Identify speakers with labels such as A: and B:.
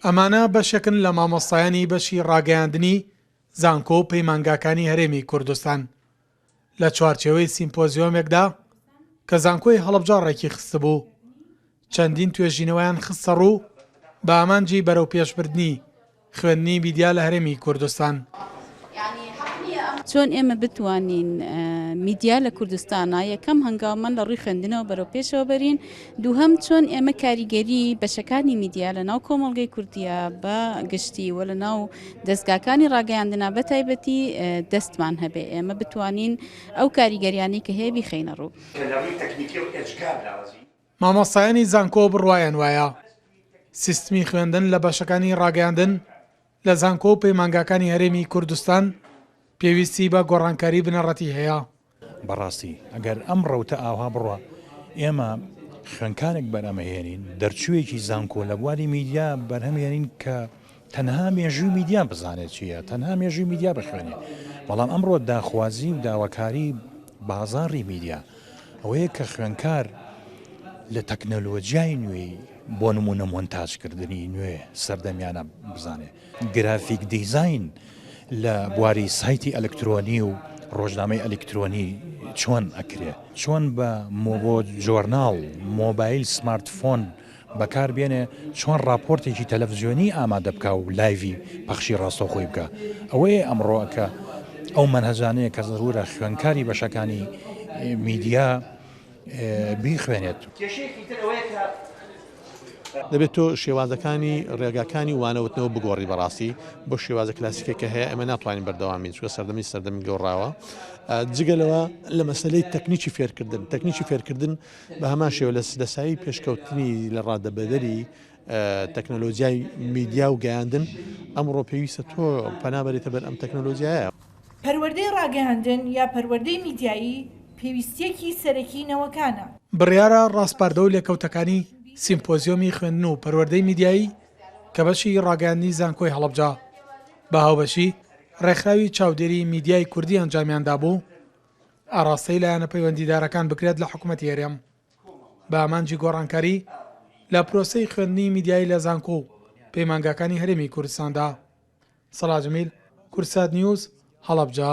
A: ئەمانە بەشێکن لە مامۆستایانی بەشی ڕاگەیاندنی زانکۆ و پەیمانگاکانی هەرێمی کوردستان لە چوارچێوەی سیمپۆزیۆمێکدا کە زانکۆی هەڵبجە ڕێکی خستبوو چەندین توێژینەوەیان خستە ڕوو بە ئامانجی بەرەو پێشبردننی خوێندنی میدیا لە هەرێمی کوردستان.
B: چۆن ئێمە بتوانین میدیا لە کوردستانا یەکەم هەنگاومان لە ڕووی خوێندنەوە بەرەو پێشەوە بەرین؟ دووهەم چۆن ئێمە کاریگەری بەشەکانی میدیا لە ناو کۆمەڵگەی کوردیا بە گشتی و لە ناو دەزگاکانی ڕاگەیاندنا بە تایبەتی دەستمان هەبێ ئێمە بتوانین ئەو کاریگەریانەی کە هەیە بیخەینە ڕوو؟
A: مامۆستایانی زانکۆ بڕوایان وایە سیستمی خوێندن لە بەشەکانی ڕاگەیاندن لە زانکۆ و پەیمانگاکانی هەرێمی کوردستان پێویستی بە گۆڕانکاری بنەڕەتی هەیە. بەڕاستی
C: ئەگەر ئەم ڕەوتە ئاوها بڕوا ئێمە خوێنکارێک بەرهەمەهێنین، دەرچوویەکی زانکۆ لە بواری میدیا بەرهەمهێنین کە تەنها مێژووی میدیا بزانێت چییە، تەنها مێژووی میدیا بخوێنێت، بەڵام ئەمڕۆ داخوازی و داواکاری بازاڕی میدیا ئەوەیە کە خوێندکار لە تەکنەلۆجیای نوێی بۆ نمونە مۆنتاجکردنی نوێ سەردەمیانە بزانێت گرافیک دیزین لە بواری سایتی ئەلکترۆنی و ڕۆژنامەی ئەلکترۆنی چۆن ئەکرێ چۆن بە مۆبۆ جۆرناڵ مۆبایل سمارتفۆن بەکار بێنێ چۆن ڕاپۆرتێکی تەلەفزیۆنی ئامادە بکا و لایڤی پەخشی ڕاستەوخۆی بکا ئەوەیە ئەمڕۆ کە ئەو مەنهەجانەیە کە زەرورە خوێنکاری بەشەکانی میدیا بیخوێنێت. کێشەیەکی
D: تر ئەوەیە کە. دەبێت تۆ شێوازەکانی ڕێگاکانی وانەوتنەوە بگۆڕی بەڕاستی بۆ شێوازە کلاسیکە کە هەیە ئەمە ناتوانین بەردەوامی چوە سەردەمی سەردەمی گۆڕاوە جگەلەوە لە مەسلەی تەکنیکی فێرکردن تەکنیکی فێرکردن بە هەمان شێوە لە سایەی پێشکەوتنی لە ڕادەبەدەری تەکنەلۆجیای میدیا و گەیاندن، ئەمڕۆ پێویستە تۆ پەنا بەرێتە بەر ئەم تەکنەلۆجیایە. پەروەردەی
E: ڕاگەیاندن یا پەروەردەی میدیایی پێویستییەکی سەرەکی نەوەکانە. بڕیارە
A: ڕاسپاردە و لێکەوتەکانی سیمپۆزیۆمی خوێندن و پەروەردەی میدیایی کە بەشی ڕاگەیاندنی زانکۆی هەڵەبجە بە هاوبەشی ڕێکخراوی چاودێری میدیای کوردی ئەنجامیان دابوو، ئاڕاستەی لایەنە پەیوەندیدارەکان بکرێت لە حکومەتی هەرێم بە ئامانجی گۆڕانکاری لە پرۆسەی خوێندنی میدیایی لە زانکۆ و پەیمانگاکانی هەرێمی کوردستاندا سەڵاجمیل کورسات نیوز هەڵەبجە